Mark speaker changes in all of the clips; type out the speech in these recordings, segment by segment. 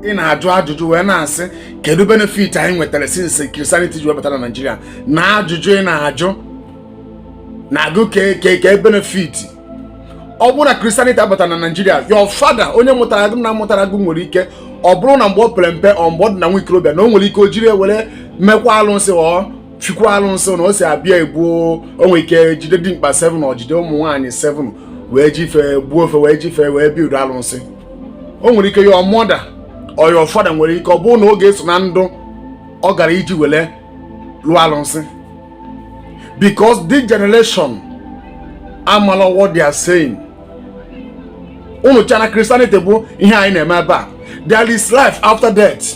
Speaker 1: ị na-ajụ ajụjụ wee na-asị kedu benefit anyị nwetara since Christianity ji wee bata na Naịjirịa na ajụjụ ị na-ajụ na-ajụ kee benefit ọ bụrụ na Christianity abata na Naịjirịa your father onye mụtara gị nna mụtara gị nwere ike ọ bụrụ na mgbe o pere mpe or mgbe ọ dị na nwa ikorobịa na o nwere ike o jiri were mekwa alụsị ọ fikwa alụsị na o si abịa egbuo o nwere ike jide dimkpa 7 or jide ụmụ nwaanyị 7 wee ji fe gbuo fe wee ji fe wee build alụsị o nwere ike your mother or your father nwere ike ọ bụrụ na ọ ga-eso na ndị ọ gara iji were lụọ alụsị because this generation amala what they are saying unu che na Christianity bụ ihe anyị na-eme ebe a there is life after death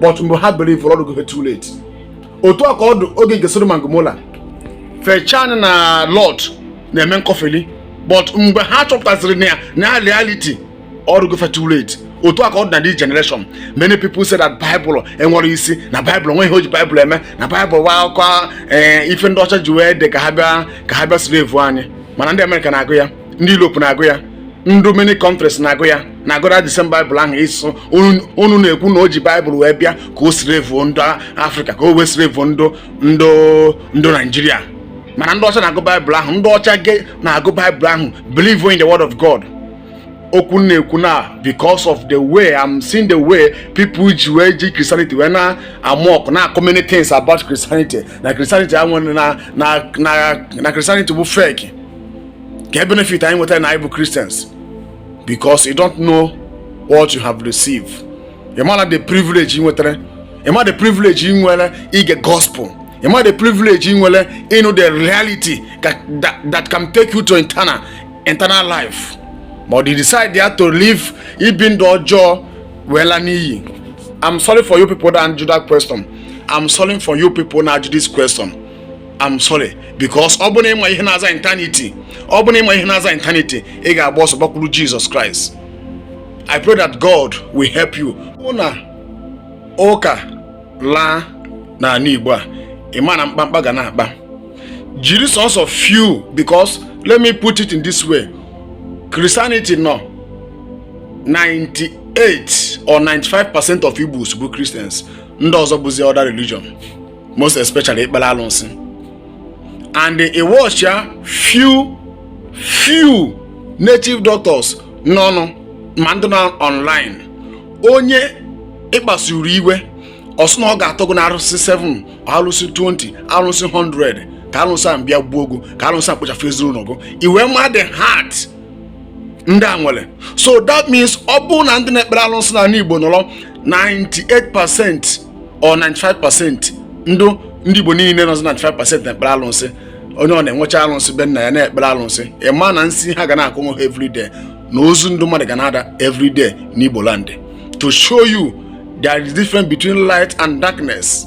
Speaker 1: but mgbe ha believuru ọ dụgo too late otu a ka ọ dụ oge nke Sodom na Gomora fe che na Lot na-eme nkọfeli but mgbe ha chọpụtaziri na ya na reality ọ dụgo too late otu a ka ọ dị na this generation many people say that Bible enwerọ isi na Bible o nwe ihe o ji Bible eme na Bible wụ akụkọ eh, ife ndị ọcha ji wee dị ka ha bịa ka ha bịa slave anyị mana ndị Amerịka na-agụ ya ndị Europe na-agụ ya ndị many countries na-agụ ya na-agụra the same baịbụl ahụ ịsụ unu na-ekwu na o ji baịbụl wee bịa ka o slave ndị afrịka ka o wee slave ndị ndị ndị naijiria mana ndị ọcha na-agụ baịbụl ahụ ndị ọcha ka na-agụ baịbụl ahụ believe in the word of god okwu m na-ekwu na because of the way i'm seeing the way people ji wee ji christianity wee na-amock na-akọ many things about christianity na christianity enwerọ na na na christianity bụ fake kee benefit anyị nwetara na anyị bụ Christians because you don't know what you have received ị mara the privilege ị nwetara ị mara the privilege ị nwere ige gospel ị mara the privilege ị nwere ịnụ the reality that, that, that can take you to eternal eternal life but ị decide ya to live ibi ndụ ọjọọ wee laa n'iyi I'm sorry for you people that answer that question I'm sorry for you people that answer this question I'm sorry because ọ bụrụ na ị ma ihe na-aza eternity ọ bụrụ na ị ma ihe na-aza eternity ị ga-agba ọsọ gbakwuru Jesus Christ I pray that God will help you ọ bụ na ụka laa n'ala Igbo a ị ma na mkpamkpa ga na-akpa jiri sọsọ few because let me put it in this way Christianity nọ 98 or 95 percent of Igbos bụ Christians ndị ọzọ bụzi other religion most especially ikpere alụsị and ị watchịa few few native doctors nọnụ ma ndị nọ online onye ị kpasuru iwe ọ sị na ọ ga-atọ gị na arụsị 7 arụsị 20 arụsị 100 ka arụsị a bịa gbuo gị ka arụsị a kpochafu ezinụlọ gị i wee ma the heart ndị a nwere so that means ọ bụrụ na ndị na-ekpere arụsị n'anị Igbo nọrọ 98% or 95 pasentị ndị ndị Igbo niile nọzi na 95 pasentị na-ekpere alụsị onye ọ na-enwecha alụsị be nna ya na-ekpere alụsị ị ma na nsị ha ga na-akọ onwe ha everyday na ozu ndị mmadụ ga na-ada everyday n'Igbo land to show you there is difference between light and darkness.